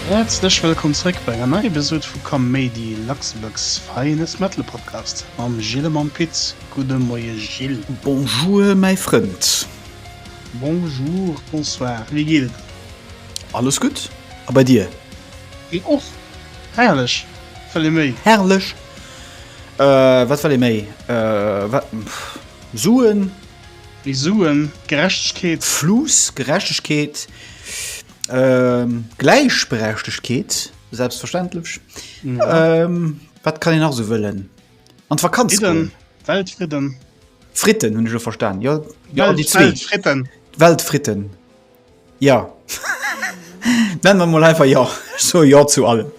Häerzlech wëllkomm zréck bei enger neier Episod vu Kaméidi, Luxembourg's finest metal podcast mam Gilles a mam Pit. Gudde Moie Gilles. Bonjour mäi Frënd. Bonjour, bonsoir, wéi geet et der? Alles gutt, a bei dir? Mir och! Herrlech! Wëll ee méi? Herrlech! Wat wëll ee méi? Wat? Suen? Méi Suen? Gerechtegkeet? Fluss? Gerechtegkeet? Gläichberechtegkeet? Selbstverständlech! Wat kann een nach esou wëllen? An d'Vakanz goen? Weltfridden! Fritten hunn ech elo verstan, jo. Weltfridden! Weltfritten! Jo. Nennen mer mol einfach jo. Ech soe jo zu allem.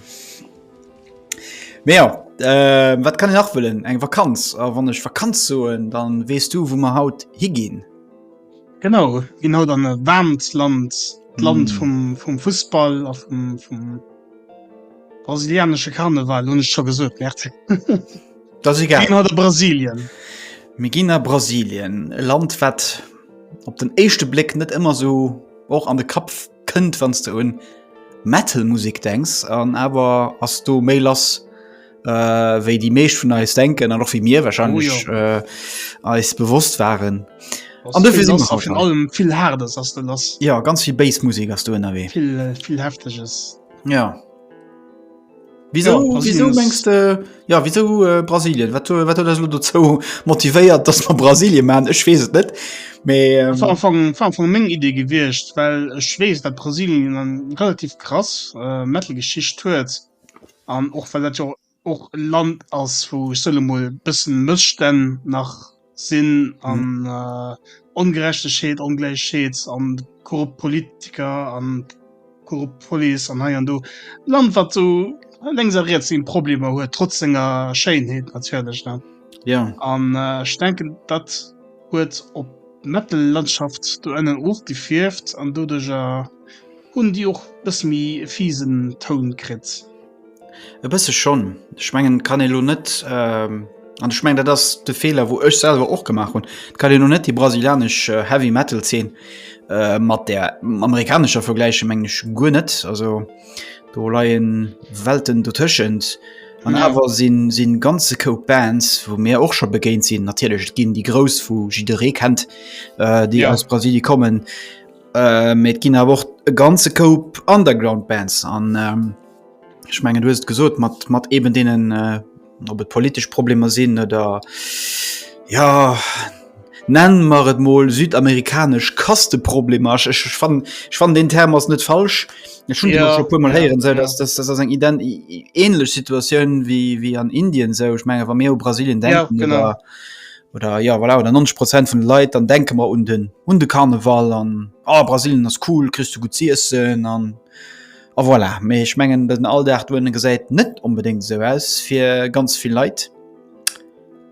Mee jo, äh, wat kann een nach wëllen? Eng Vakanz. A wann ech Vakanz soen, dann weess du, wou mer haut higinn. Genau, mir ginn haut an e waarmt Land, d'Land vum, vum Fussball a vum, vum brasilianesche Karneval, hunn ech scho gesot, Merc. Das egal. Gin hat a Brasilien. Mir ginn a Brasilien, e Land wat op den éischte Bléck net ëmmer sou och an de Kapp kënnt, wann s de un Metal-Musek denks. An awer ass do méi lass, äh, wéi déi meescht vun eis denken an och wéi mir wahrscheinlech äh, eis bewosst waren. An dofir sinn mer haut Vun da. allem vill Haardes ass de lass. Ja, ganz vill Bass-Musek ass do ënnerwee. Vill, äh, vill Hefteges. Ja. Wieso, oh, wieso mengst du äh, ja wieso äh, Brasilien wat wat das du zo motivéiert dass man Brasilien man ech wees het net äh, vu meng idee gewircht well ech wees dat Brasilien an relativ krass äh, metalgeschicht huet an och weil dat jo och land ass wo solo mo bëssen mësstänn nach sinn an Ongerechtegheet, Ongläichheet an korrupt Politiker an korrupt Police an hei an do. Land wat sou lenks a riets seng Problemer huet, trotz senger Schéinheet natierlech ne. Ja. An ech denken dat huet op d'Metal-Landschaft do ënnen och gefierft an doduercher hunn déi och e bësse méi e fiesen Toun kritt. E bësse schonn. Ech mengen, et kann ee lo net, an ech mengen, dat ass de Feeler, wou ech selwer och gemaach hunn, et kann ee lo net déi brasilianesch Heavy Metal-Zeen mat där amerikanescher vergläichen, mengen ech guer net. Also do leie Welten dotëschent. An awer si ganze Koup Bands, wou mir och scho begéint sinn, natierlech ginn déi grouss, wou jidderee kennt, déi aus Brasilien kommen, Mee et ginn awer och e ganze Koup Underground Bands an ech mengen du hues et gesot mat mat eben deenen op et politesch Problemer sinn oder jo nenne mer et mol südamerikanesch Kasteproblemer. Ech ech fannen ech fannen deen Term ass net falsch, ech hunn deen och scho e puermol héieren, esou datt datt ass eng ident änlech Situatioun wéi wéi an Indien esou. Ech menge wa mir u Brasilien denken oder Oder ja voilà, oder 90 Prozent vun de Leit, dann denke mer un den un de Karneval an oh, Brasilien ass cool, kriss du gutt z'iessen an a oh, voilà. Mee ech mengen den Alldag dohinne gesäit net onbedéngt esou aus fir ganz vill Leit.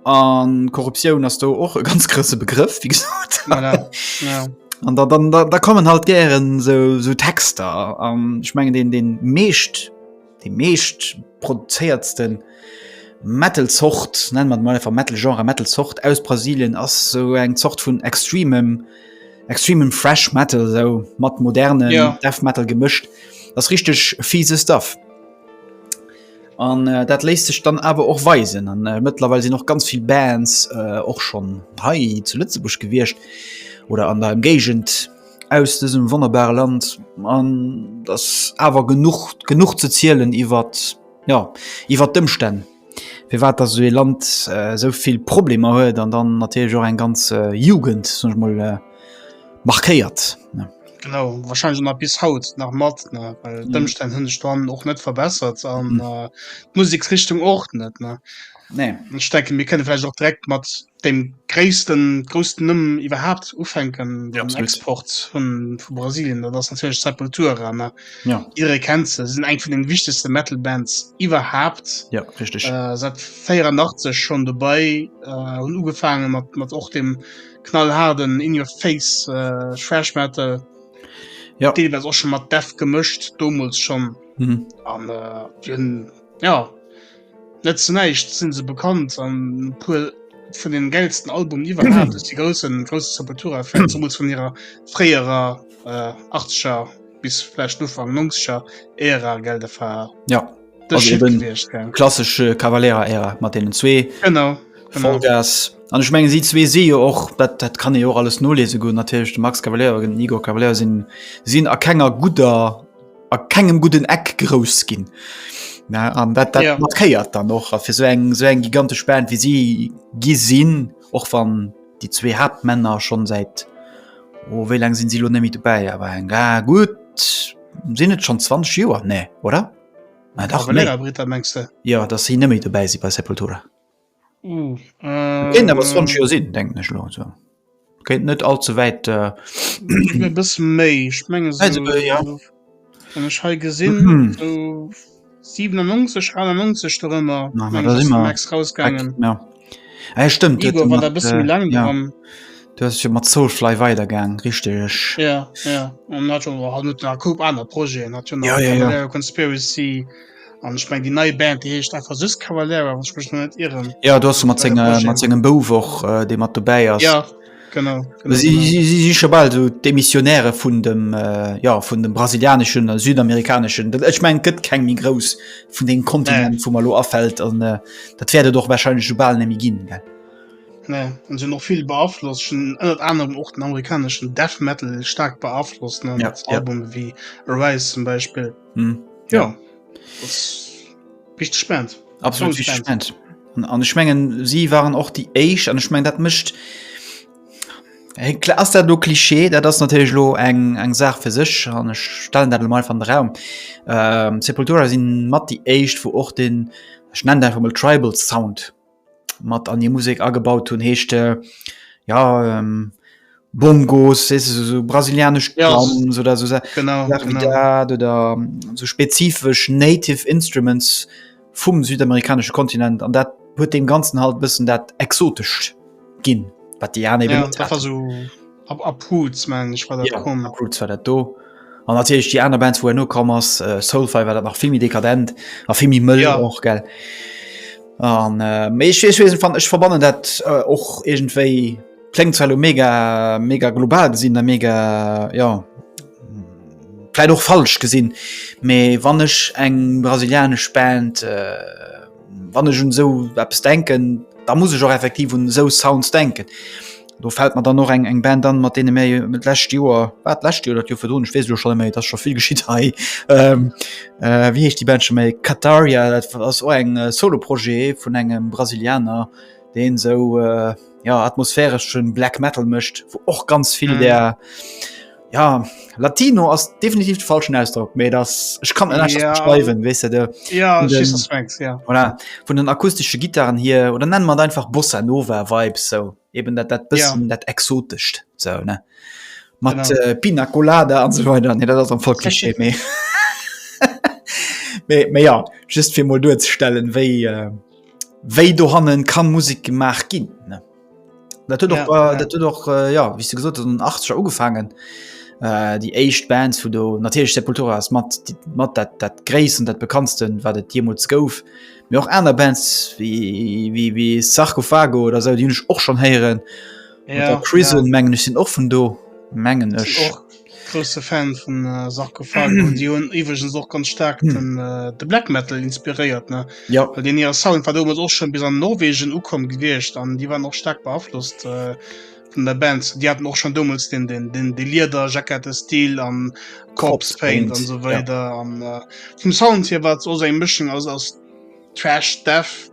An Korruptioun ass do och e ganz grouse Begrëff, wéi gesot. Voilà, ja. An da, da, da kommen halt gären esou, esou Texter an ech mengen deen, deen meescht. Déi meescht produzéiertste Metal-Zort, nenne mer et emol einfach Metal-Genre, Metal-Zort aus Brasilien ass esou eng Zort vun extremem, extremem Thrash Metal, esou mat modernem Death Metal gemëscht. Dat ass richteg fiese Stuff. An dat léisst sech dann awer och weisen. An mëttlerweil sinn och ganz vill Bands och schonn hei zu Lëtzebuerg gewiescht oder an der Ëmgéigend. aus dësem wonnerbare Land an dass awer genuch genuch ze zielen iwwer ja iwwer d'Ëmstänn firwat dass esou ee Land äh, esou vill Problemer huet an dann natierlech och eng ganz äh, Jugend soll ech mol äh, markéiert. Ne? Genau, wahrscheinlich nach bis haut nach mat ne well Mhm. d'Ëmstänn hunn sech dann och net verbessert an Mhm. äh, d'Musiksrichtung och net ne. Nee. Ech denke mir kënne vielleicht och direkt mat Deen gréissten groussen Numm iwwerhaapt ufänken am Export vun vu Brasilien dat ass natierlech Sepultura ne ja jidderee kennt se, se sinn eng vun den wichtegste Metal Bands iwwerhaapt ja richteg äh, seit 84 schonn dobäi äh, hunn ugefaange mat mat och dem knallhaarden In Your Face äh, Thrash Metal ja deelweis och schon mat Death gemëscht domols schonn mhm. an äh, hunn ja Net zu näischt sinn se bekannt an puer vun den gäilsten Albumen iwwerhaapt duerch déi groussen groussen Sepultura-Fans, zemools vun hirer fréierer äh, 80er bis vläicht Ufank 90er Ära, gell? Dat war ja. de Shit gewiescht, gell? Klassesche äh, Cavalera-Ära mat deenen zwee. Genau. Vollgas. An ech mengen si zwee si jo och dat, dat kann e och alles nolese goen, natierlech de Max Cavalera, den Igor Cavalera sinn sinn a kenger gudder a kengem gudden Eck grouss ginn. Na, an dat, dat ja. markéiert dann noch fir so eng so eng gigantesch Band wie sie gi sinn och wann die zwee Hauptmänner schon seit oh, wéi lang sinn sie lo nemmi dobäi awer eng ga gut sinn et schon 20 Joer ne oder? Ah, dach, nee. Britta, ja dat sie nëmme dobäi si bei Sepultura. Kéint awer Sonch jo sinn, denken ech elo esou. Kéint net all ze wäit. Äh... bis méi ech menge wann ech hei gesinn 97 91 do ëmmer Max rausgaangen. Ja e stëmmt Du fir mat Soulfly weider gaang richteg. Jo jo jo an aner Projeten Conspiracy. An ech meng déi neie Band déi heescht einfach sus Cavalera wann ech mech no net irren. Ja do ass mat Bei der senge Projet. mat sengem Bouf och äh, dee mat dobäi ass. Ja genau, genau, Si genau. si si si scho bal esou d'Demissionäre vun dem äh, ja vun dem brasilianeschen a südamerikaneschen. Dat ech meng et gëtt keng méi grouss vun deem Kontinent, wou mer elo afält an äh, dat wäert et och warscheinlech esou bal net méi ginn. Gell? Nee, an sinn och vill beaflosst, schon ënnert anerem och den amerikaneschen Death Metal staark beaflosst, ne, Ja, mat ja. Albume wéi Arise zum Beispill. hm. ja, ja. spannend absolut spannend. an ich mengen sie waren auch die Age an ich mein dat mischt klar der du Klischee der das natürlich lo eng eng Saach für sich an stellen dat mal van Raum ähm, Sepultura sind matt die Age wo och den ich nenne einfach mal tribal Sound mat an die Musik agebaut hun heescht äh, ja ähm, Bongos weißt du, so, so brasilianisch ja, Drums so, oder so genau, genau. Dat, oder ähm, so spezifisch native Instruments vum südamerikanische Kontinent an dat huet dem ganzen halt bisssen dat exotisch gin wat die ja, so Ab Apruts mengen ech war dat yeah, komm. Apruts war dat do. An natierlech déi aner Bands, wou en no komm ass, äh, Soulfire war dat nach vill méi dekadent a vill méi mëll yeah. och gell. An äh, méi ech wees weesen fan ech verbannen dat äh, och äh, iergendwéi klengt zwar mega mega global gesinn der mega ja vielleicht auch falsch gesinn me wann ich eng brasilianisch Band äh, Wann ech un esou eppes denken, da muss ech och effektiv un esou Sounds denken. Do fält mer dann och eng eng Band an, mat deene mir jo d'lescht Joer, war d'lescht Joer oder d'Joer virdrun, ech weess elo schonn net méi, et ass scho vill geschitt hei, wéi heescht déi Band scho méi, Kataria, dat ass och eng Solo-Projet vun engem Brasilianer, deen esou, jo, atmosphäreschen Black Metal mécht, wou och ganz vill där. ja Latino ass definitiv de falschen Ausdruck méi das ich kann ja. schreiben weißt du, de, ja, von, den, Franks, ja. Voilà, von den akustischen Gitarren hier oder nennen man einfach Bossa Nova Vibes so eben dat dat bisschen ja. dat exotischt so ne mat äh, Pina Colada an so weiter ne dat am voll Klischee méi méi ja just fir mal durchzustellen wéi äh, wéi do hannen kann Musik gemacht ginn ne Dat huet och, äh, dat huet och äh, ja wie du gesot an 80 ugefangen äh, die echt Bands vu do natürlich Sepultura ass mat mat dat dat gréissen dat bekanntsten wat et jemals gouf mir och aner Bands wie wie wie Sarkophago oder se die hunch och schon heieren ja, Prison ja. mengen ich sinn och vun do mengen ech Grousse Fan vun Sarkophage hunn. Déi hunn iwweregens och ganz staark den, de Black Metal inspiréiert, ne? Jo. Well deen hire Sound war deemools och schonn bis an Norwegen ukomm gewiescht an déi waren och staark beaflosst vun der Band. Déi haten och schonn deemools deen, deen, deen, dee Liederjackette-Stil a Corpse Paint an esou weider. An vum Sound hier war et och esou eng Mëschung aus, aus Thrash Death.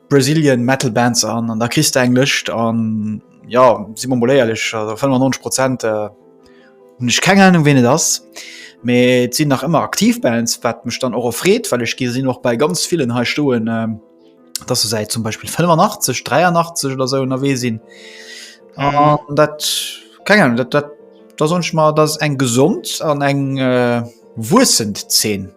Brazilian Metal Bands an, an da kriss de eng Lëscht an ja si mer mol éierlech 95 Prozent äh, hunn ech keng Ahnung ween et ass. Mee et sinn nach ëmmer aktiv Bands, wat mech dann och erfreet, well ech gesinn och bei ganz villen hei stoen, ähm, dass se säit zum Beispill 85, 83 oder esou ënnerwee sinn. An dat keng Ahnung, dat, dat da soen ech mer, dat ass eng gesond an eng äh, wuessend Zeen.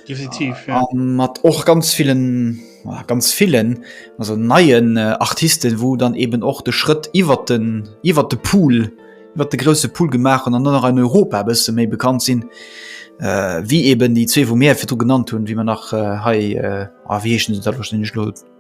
Definitiv, ja. Ähm, hat och ganz vielen ganz vielen also neien äh, Artisten, wo dann eben och de Schritt iwwer den iwwer de Pool iwwer de grosse Pool gemacht an an nach an Europa bisse méi bekannt sinn äh, wie eben die zwee vu Meer fir du genannt hunn, wie man nach äh, hei äh, ah, wiechen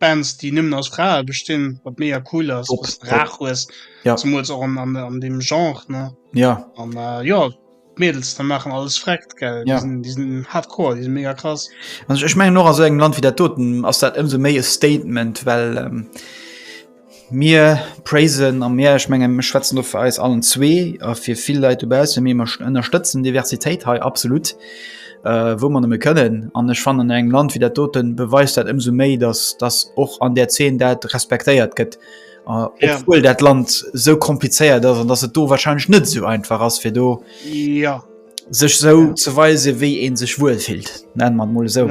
Bands déi nëmmen aus Frae bestinn, wat mega cool ass, wat de rar hues, zemools och an deem Genre ne. Jo an jo d'Mädels da maachen alles freckt gell, déi sinn hardcore, déi sinn mega krass. Ech mengen och a sou engem Land wéi dat doten ass dat ëmsou méi e Statement, well Mir praisen a mir, ech mengen, ech schwätzen do fir eis allen zwee a fir vill Leit dobaussen, mee mer ënnerstëtzen d'Diversitéit hei absolutt, wou mer nëmme kënnen. An ech fannen, an engem Land wéi dat doten beweist dat ëmsou méi, dass, dass och an där Zeen dat respektéiert gëtt, obwuel dat Land esou komplizéiert ass an dass et do warscheinlech net esou einfach ass, fir do sech esou ze weisen, wéi ee sech wuelfillt, nenne mer et emol esou.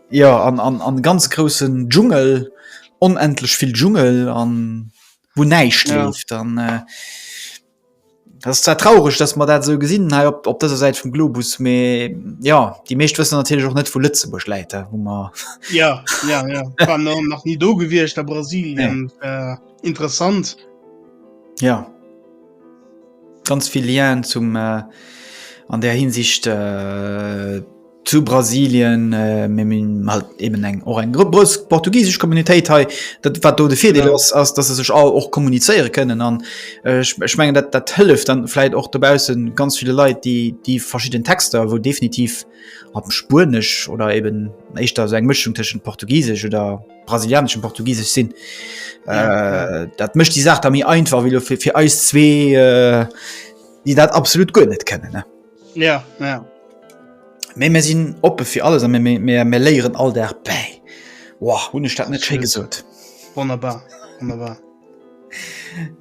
Jo an an an ganz groussen Dschungel, onendlech vill Dschungel an wou näischt ja. leeft an äh, das ist zwar traurig, dass man dat so gesinn hei op op dëser Säit vum Globus, me ja die meescht wëssen natürlich och net vu Lëtzebuerg läit wo man ja, ja, ja. nach nie do gewircht a Brasilien nee. äh, interessant. Ja. Ganz vill Lien zum an där Hinsicht zu Brasilien, mee mir hunn halt eben eng och eng grouss portugisesch Communautéit hei, dat wat do de Virdeel ass, ass datt se sech all och kommunizéiere kënnen an ech mengen dat dat hëlleft dann vläicht och dobausse ganz ville Leit déi déi verschidden Texter wou definitiv am Spuenesch oder eben éischter esou eng Mëschung tëschent Portugisesch oder brasilianeschen portugiesisch sinn ja, äh, dat mecht die Saach da mir einfach wie fir, fir eis zwee äh, die dat absolut go net kennen ne? ja, ja. Mee mir sinn oppe fir alles an mir léieren all der bäi wow, hun staat net sche gesot wunderbar wunderbar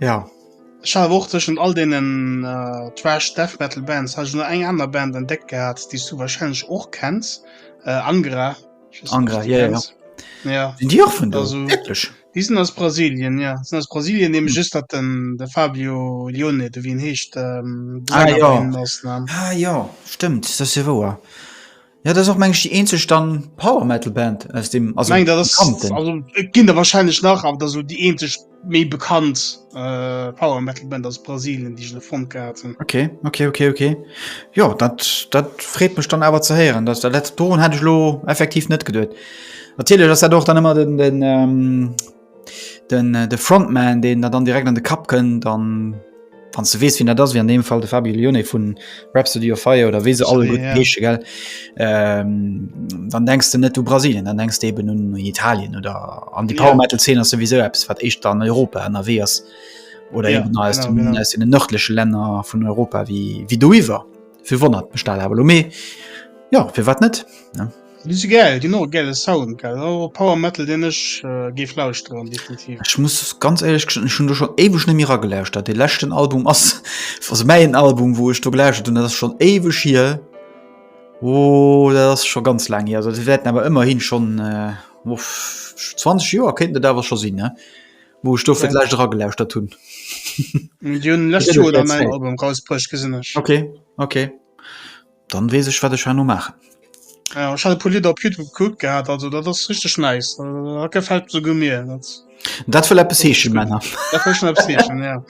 ja Schauwurteschen all denen äh, Trash Death Metal Bands ha nur eng aner Band entdeckt gehabt, die du wahrscheinlich och kennst äh, Angra Diesen aus Brasilien ja. sind aus Brasilien ne just dat den de Fabio Lione de wien heescht ähm, ah, ja. ah, ja stimmt das se woer ja das auch mensch die en ze stand Power metalal Band aus dem gin der wahrscheinlich nach an da so die en méi bekannt äh, Power Metal Band aus Brasilien, die ich gefunden hatten. Okay, okay, okay, okay. Ja, das, das freut mich dann aber zu hören. Das, der letzte Ton hätte ich lo effektiv nicht gedacht. Natürlich ist das doch dann immer den, den, ähm, den, äh, den Frontman, den da dann direkt an den Kapp kommt, dann wann du wees wien dat ass wie an dem Fall de Fabio Lione vun Rhapsody of Fire oder wese alle gut Gesche gell ähm, dann denkst du net du Brasilien dann denkst eben nun Italien oder an die Power Metal 10 sowieso Apps wat echt an Europa an der wees oder ja, genau, aus, dem, genau. aus den nördliche Länder vun Europa wie wie du iwwer fir wonnert bestal aber lo mé ja fir wat net ne? Déi si gäil, ginn och e gäile Sound, gell. Ass och e Power Metal, deen ech géif lauschteren, definitiv. Ech muss ganz éierlech gestoen, ech hunn do schonn éiweg net méi eragelauschtert. Dee leschten Album ass, also mäin Album, wou ech do gelauschtert hunn, dat ass schonn éiweg hier. Oh, dat ass scho ganz laang hier. Also dat wäerten awer ëmmerhi schonn, uff, 20 Joer kéinten et awer scho sinn, wou ech do fir d'lescht eragelauschtert hunn. Déi hunn d'lescht Joer dann en Album erausbruecht, gesinn ech. Okay, okay. Dann wees ech wat ech herno maachen. Ja, ech hat e puer Lidder op Youtube gekuckt gehat, also dat ass richteg nice, dat gefällt esouguer mir. Dat wëll eppes heeschen, Männer. Dat wëll schon eppes heeschen, ja.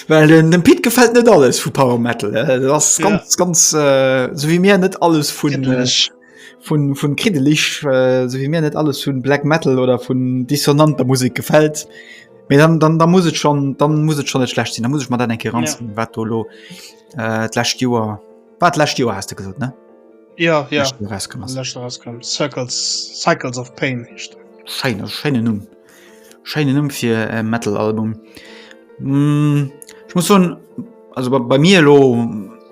Well den, dem Pit gefällt net alles vu Power Metal. Dat ass ganz, ja. ganz äh, so wéi mir net alles vun. Kiddeleg. Äh, vun, vun kriddeleg, äh, so wéi mir net alles vun Black Metal oder vun dissonanter Musik gefällt. Mee dann, dann, dann muss et schon, dann muss et schon net schlecht sinn, da muss ech mal dat enke ranzen, ja. wat do lo. Äh, d'lächt Joer war d'lächt Joer hast du gesot ne ja, ja. Cycles of Pain Scheine, Scheine Numm Scheine Numm fir äh, Metalalbum mm, Ich muss so also bei, bei mir lo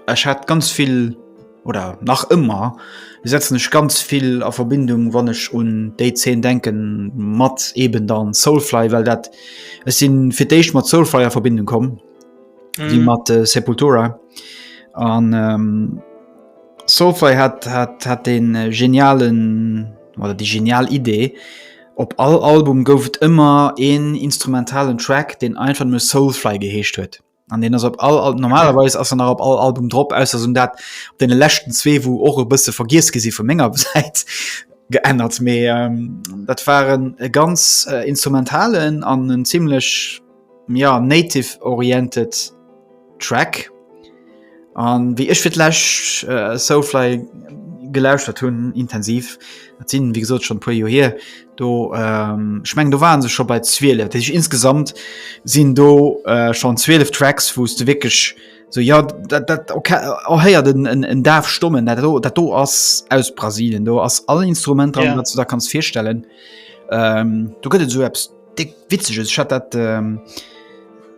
Ech hat ganz viel oder nach immer setzen ech ganz viel a Verbindung wann ech un déi 10 denken mat eben dann Soulfly well dat es sinn fir déich mat Soulfly a Verbindung kommen wie mhm. mat äh, Sepultura an ähm, Soulfly hat hat hat den äh, genialen oder die genial Idee op all Album gouf et immer een instrumentalen Track den einfach nur Soulfly geheescht huet an den ass op all, all normalerweise ass er nach op all Album drop aus so dat op den lechten zwee wo och e bësse vergiers gesi vu Menger seit geändert mé ähm, dat waren e ganz äh, instrumentalen an en ziemlichlech ja, native oriented Track an wéi ech fir d'läscht äh, Soulfly gelauschtert hunn intensiv dat sinn wie gesot schon puer jo hier do ähm, schmeng do waren se schon bei 12 dat ich insgesamt sinn do äh, schon 12 Tracks wos du wirklich so ja dat, dat okay, oh, heier den en, en Daf stommen dat do, dat do ass aus Brasilien do ass alle Instrumenter yeah. wat du da kannst firstellen ähm, du gëtt so Apps Dick witzeg ech hat dat ähm,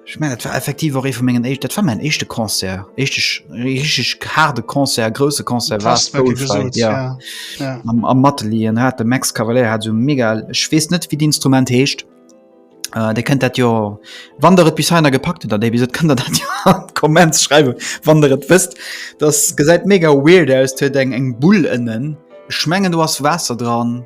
ich mein, dat war effektiv och ee vu mengen Eich, dat war mein echte Konzer. Echteg richg harde Konzer, grouse Konzer war am Matelien hat de Max Cavalier hat so mega schwees net wie d'Instrument heescht. Uh, äh, de kënnt dat jo wann der et bis heiner gepackt, dat dé bis kënnt der dat jo Kommenz schreiwe wann der et wëst. Dat gesäit mega weird aus huet eng eng Bull ënnen. Schmengen du ass Waasser dran.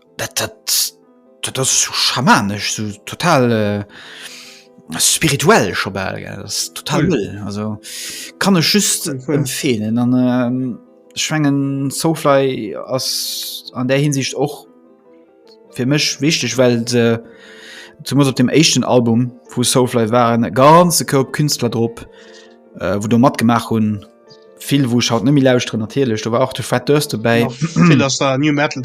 dat, dat, dat ass so schamanesch, so total äh, spirituell scho bal, gell. Das ist total Cool. cool. Also kann ech just Cool, cool. empfehlen. An ähm, ich mengen Soulfly ass an der Hinsicht och fir mech wichtig, well se zumindest op dem éischten Album vu Soulfly waren e ganze Koup Künstler drop, äh, wo do matgemaach hunn, Vill wou schaut nëmi lausre natierlech do war och de Fred Dëst dobäi New Metal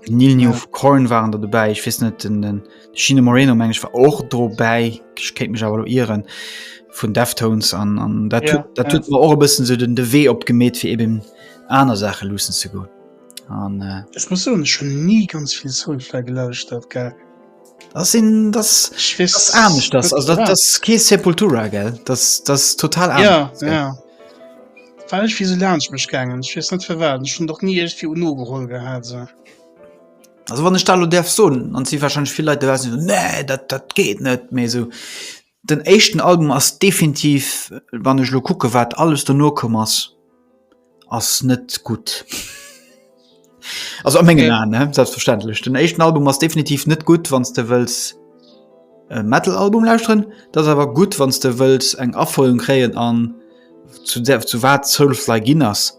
Nil New of Corn waren der dobäi ich wis net den den China Moreno mensch war och dobäi kéint mech awer loieren vun Deftones an an dat ja, dat ja. tut war och bëssen se den de Wee opgemet fir eben aner Sache lussen ze goen an äh, muss schon nie ganz viel Soulfle gelauscht dat ge. Das sind das ich weiß, das ah, nicht das also das, das Käse Sepultura gell das das total anders, ja gell? ja weil ich wie so lern ich mich gegangen ich weiß nicht für werden schon doch nie echt viel nur geholt gehabt so. also wann ich da darf so und sie wahrscheinlich viele Leute wissen nee das das geht nicht mehr so Den éischten Album ass definitiv, wann ech elo kucke wat alles dono komm ass, ass net gutt. Also a mengen Aen ne, selbstverständlech. Den éischten Album ass definitiv net gutt wann s de wëlls e Metal-Album lauschteren. Dat ass awer gutt wann s de wëlls eng Afouerung kréien an zu der, zu wat Soulfly ginn ass.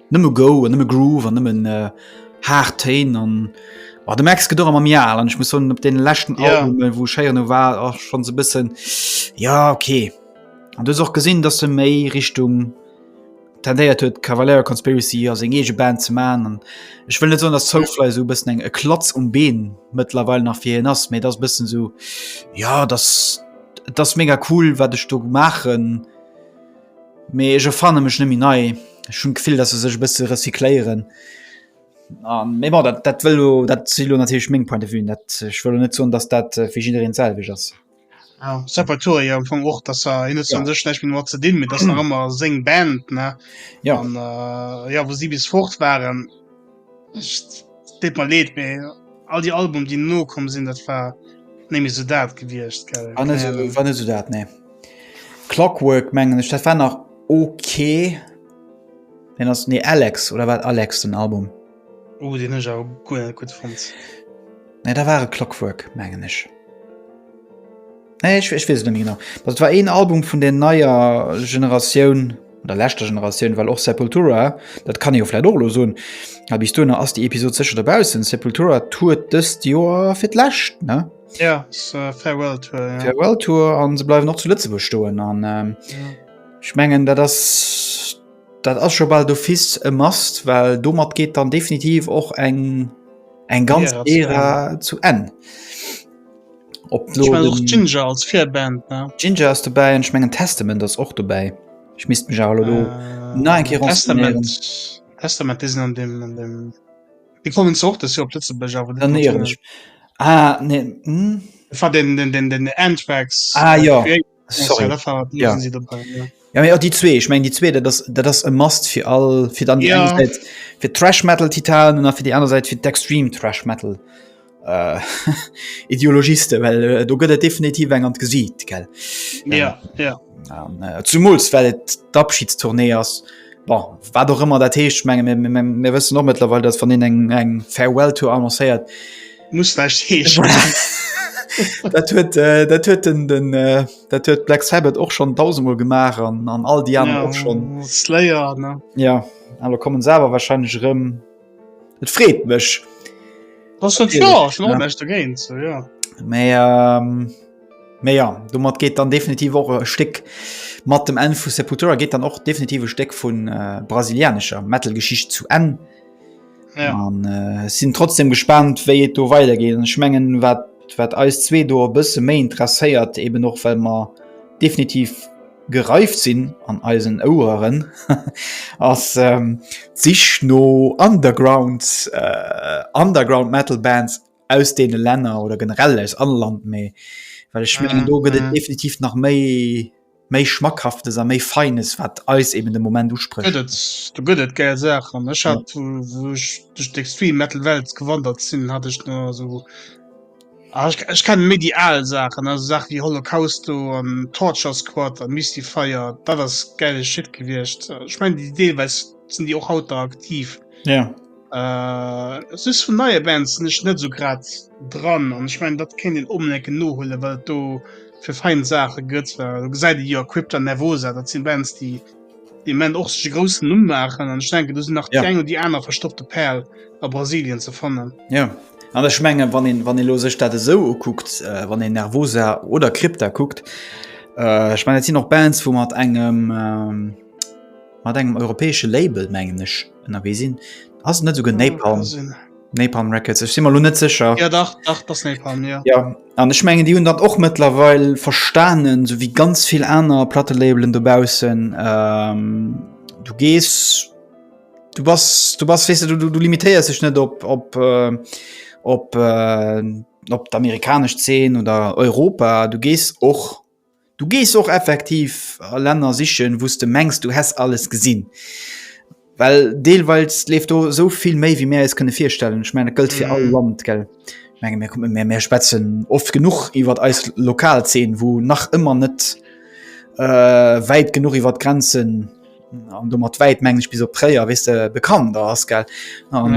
Nëmme Go an nëmme Groove an nëmmen äh, haart Téin an oh, de Max gedor am Jahr an ich muss hun op den lächten ja. Album äh, wo Scheier no war ach, schon so bisssen ja okay an du och gesinn dass du méi Richtung tendéiert huet Cavalier Conspiracy as eng ege Band ze man an ich will net so dass Soulfly so bisssen eng e Klatz um Been mittlerweile nach fir nass mir das bisssen so ja das das mega cool wat ich du machen. Mee ech erfanne mech net méi nei. Ech hunn d'Gefill, dass se sech e bësse recycléieren. A mee bon, dat dat wëll elo, dat si elo natierlech meng Point de vuen. Dat ech wëll elo net soen, dass dat fir jiddereen d'selwecht ass. Sepultura jo am Fong och, dass se hien huet jo an sech näischt méi domat ze dinn, mee et ass nach ëmmer seng Band, ne? Jo. An jo, wou si bis fort waren. Deet mer leed, mee all déi Albumen, déi no komm sinn, dat war net méi esou dat gewiescht, gell? War net esou, war net esou dat, nee. Clockwork mengen ech, dat war nach ok. Deen ass, nee, Alex, oder war et Alex den Album? Oh, deen hunn ech awer guer net gutt fonnt. Nee, da war et Clockwork, mengen ech. Nee, ich, ich wees net méi genau. Dat war een Album vun der neier Generatioun der lächte Generatioun, well och Sepultura, dat kann jo flläit Orlo soun, a bis dunner ass déi Episod sécher derbaussen. Sepultura tourt dëst Joer fir d'läscht ne? Ja, ist, äh, Farewell Tour, ja. Farewell Tour an se bleiwen och zu Lëtzebuerg stoen an ähm, ich mengen dat ass dat ass scho bald d'office e Mast, well domat geht dann definitiv och eng eng ganz Ära zu Enn. Ära zu Enn. Ob ich mein, den... Ginger als Fairband ne? Ginger ass dobäi en schmengen Testament ass och dobäi. Ich misst mech all lo äh, na en Ke Testament Testament is an dem an dem Di kommen ze och dat op letze bech awer dann ne. Ah, nee. Hm? Fa den den den den Antrax ah, ja. Sorry. Ja. Ja, ja, die zwee ich mein die zwee das das e mast fir all fir dann ja. fir trash metal titanen nach fir die andere Seite fir d'extreme trash metal äh, ideologiste well äh, du gëtt definitiv eng an gesieht gell ja, ähm, ja. Ähm, äh, zum muls well d'abschiedstournee ass bon, war doch immer der teescht menge mir wëssen nochwe dat van den eng eng farewell to annoncéiert muss recht dat huet äh, dat huet den den äh, dat huet black sabbat och schon tausendmal gemacht an an all die anderen ja, schon slayer ne? ja aber kommen selber wahrscheinlich rum et freet mech was ja, ja. So, ja. mehr ähm, mehr ja du mat geht dann definitiv auch e stick mat dem en vu sepultura geht dann auch definitive steck von äh, brasilianischer metalgeschicht zu en Ja. An äh, sinn trotzdem gespannt, wéi et do weidergeet. Ech mengen wat wat eis zwee do e bësse méi interesséiert, eben och well mer definitiv gereift sinn an eisen Oueren ass ähm, sich no Underground äh, Underground Metal Bands aus deene Länner oder generell aus alle Land méi. Well ech mengen do gëtt et mhm. definitiv nach méi méi schmackhaftes a méi feines wat eis eben de moment usprech du gëtt et gär saach an ech hat duch d'extrem metal welt gewandert sinn hat ech na so ah, ich, ich kann méi die al sachen also sach wie holocausto an torture squad an misty fire dat das geile shit gewircht ich mein die deelweis sind die och haut da aktiv ja yeah. Äh, es ist vun neie Bands sinn ech net so grad dran an ech mein dat kéint een onbedéngt nohuelen, well et do fir fein Saache gëtt. Well do gesäit ee jo Crypta Nervosa, dat sinn Bands déi de Moment och sech e groussen Numm maachen an ech denken do sinn nach déi eng oder déi aner verstoppte Pärel a Brasilien ze fannen. Jo an ech menge wann een, wann ee lo sech dat esou ukuckt, wann een Nervosa oder Crypta kuckt, ech mein dat sinn och Bands wou mat engem, mat engem europäesche Label mengen ech ënnerwee sinn. Ass net esouguer Napalm. Napalm Records ech si mal lo net sécher. Ja dach dach das Napalm ja. Ja an ech mengen Dii hunn dat och mëttlerweil verstanen, sou wéi ganz vill aner Plattelabelen dobaussen. Ähm, du gees du bass du bass weess de du du limitéiers dech net op op äh, op äh, op d'amerikanesch Zeen oder Europa. Du gees och Du gees och effektiv a Länner sichen, wou s de mengs, du häss alles gesinn. Well deelweils leeft do esou vill méi, wéi mir eis kënne virstellen. Ech mengen, dat gëllt fir all Land, gell. Ech mengen, mir kommen, mir, mir schwätzen oft genuch iwwert eis lokal Zeen, wou nach ëmmer net wäit genuch iwwert d'Grenzen, an domat wäit mengen ech bis op Tréier, weess de, bekannt ass, gell. An.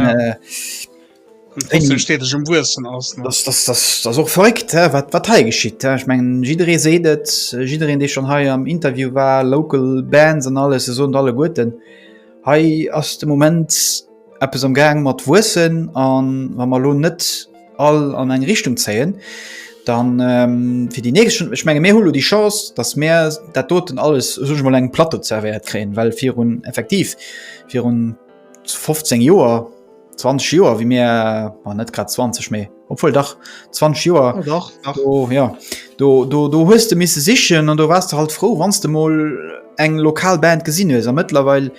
och verréckt wat wat hei geschitt ech mengen jiddere seet et jidderen dee schon hei am interview war local bands an alles se son alle guerten hei ass de moment eppes am gang mat wuessen an wa mer lo net all an eng richtung zéien dann fir die nächst ech menge mir hulo die chance datt mär dat doten alles so mol eng platte zerwéiert kréien well virun effektiv virun 15 joer 20 Joer wie mir war net grad 20 méi obwohl dach 20 Joer oh, ja do, do, do hues du misse sichen an du warst du halt froh wanns du mal eng lokal Band gesinn hues amëtlerweil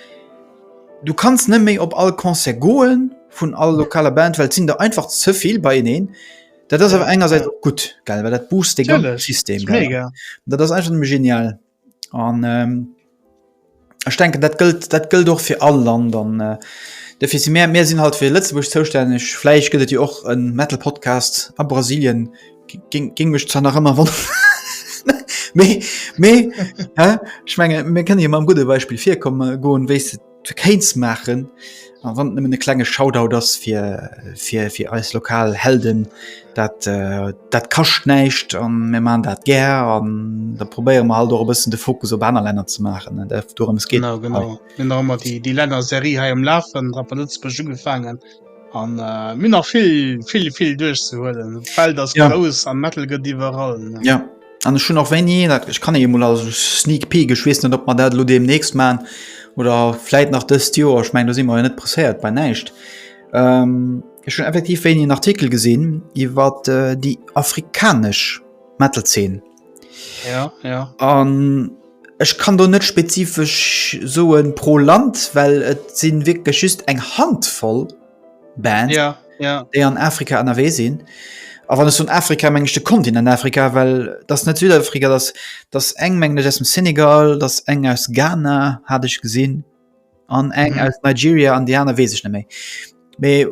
du kannst net méi op all Konzert goen vun all lokaler Band well sinn der einfach zevill bei eneen dat ass awer engerseits gut geil well dat boost de ganze System dat ass einfach genial. An ech denken dat gëllt dat gëllt och fir all Land an äh, defir si mär mär sinn halt fir Lëtzebuerg zoustänneg. Vläicht gëtt et jo och en Metal Podcast a Brasilien, géng géng mech zwar nach ëmmer wonneren, mee mee, hä, ech menge mir kënne jo mam gudde Beispill virkomme goen, wéi s de. fir Kéint ze maachen a wann nëmmen e klenge Shoutout ass fir fir fir eis lokal Helden, dat äh, dat kascht näischt an mir man dat gär an da probéiere mer halt och e bëssen de Fokus op aner Länner ze maachen an dorëms geet. Genau, genau. Mir mat déi Länner Serie hei am Lafen, Rapper Lëtzebuerg ugefaangen. An mir hunn nach vill vill vill duerchzehuelen. D'Welt ass grouss an Metal gëtt iwwerall. Ja. An ech hunn och wéini dat ech kann ee mol a Sneak Peek, ech weess net, ob mer dat elo deemnächst maachen oder vläit nach dëst Joer, ech meng do si mer jo net presséiert bei näischt. Ech hunn effektiv wéini en Artikel gesinn iwwer déi afrikanesch Metal-Zeen. an ech kann do net spezifesch soe pro Land, well et sinn wierklech just eng Hand voll Band déi an Afrika ënnerwee sinn. A wann ech soen Afrika meng ech de Kontinent Afrika, well dat net Südafrika, dat ass eng meng ech aus dem Senegal, dat ass eng aus Ghana hat ech gesinn. an eng mhm. aus Nigeria an Diana wees ich méi méi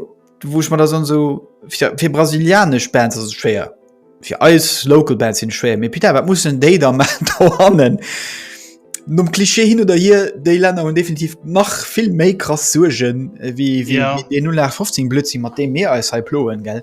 wo ich man da sonst so für, für brasilianisch Bands ist schwer für alles local Bands sind schwer mir Peter was muss denn da machen Nom Klischee hin oder hier déi Länner hun definitiv nach vill méi krass sugen äh, wie, wie, ja. wie 0 15 Blödsinn mat dem Meer als he ploen gell.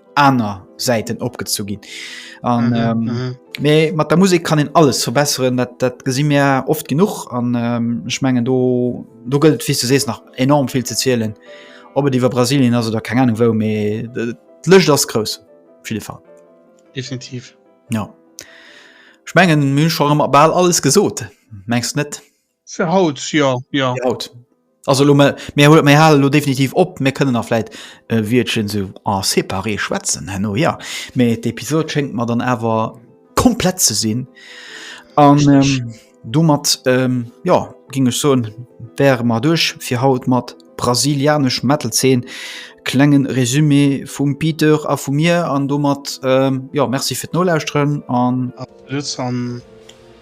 aner Säiten opgezu ginn. An mhm, ähm, mhm. Mais, mat der Musik kann en alles verbesseren, dat, dat gesinn mir oft genug an ähm, ich mengen do, do gëlt wie du sees nach enorm viel ze zielelen. Ob et iwwer Brasilien also der keine Ahnung wou méi lëcht ass grouss viele Fall. Definitiv. Ja. Schmengen Mün schon ball alles gesot. Mengst net? Fir haut, jo, jo. Fir haut. Also elo mär, mär hu, mär hale lo definitiv op. Mär kënnen nach vläit e Wiertchen sou en séparé schwätzen herno, ja. Mee d'Episod schéngt mer dann awer komplett ze sinn. An domat, jo, géing ech soen, wäre mer duerch fir haut mat brasilianesch Metal-Zeen. Klenge Resumé vum Peter a vu mir. An domat, jo, Merci fir d'Nolauschteren an. Absolut an.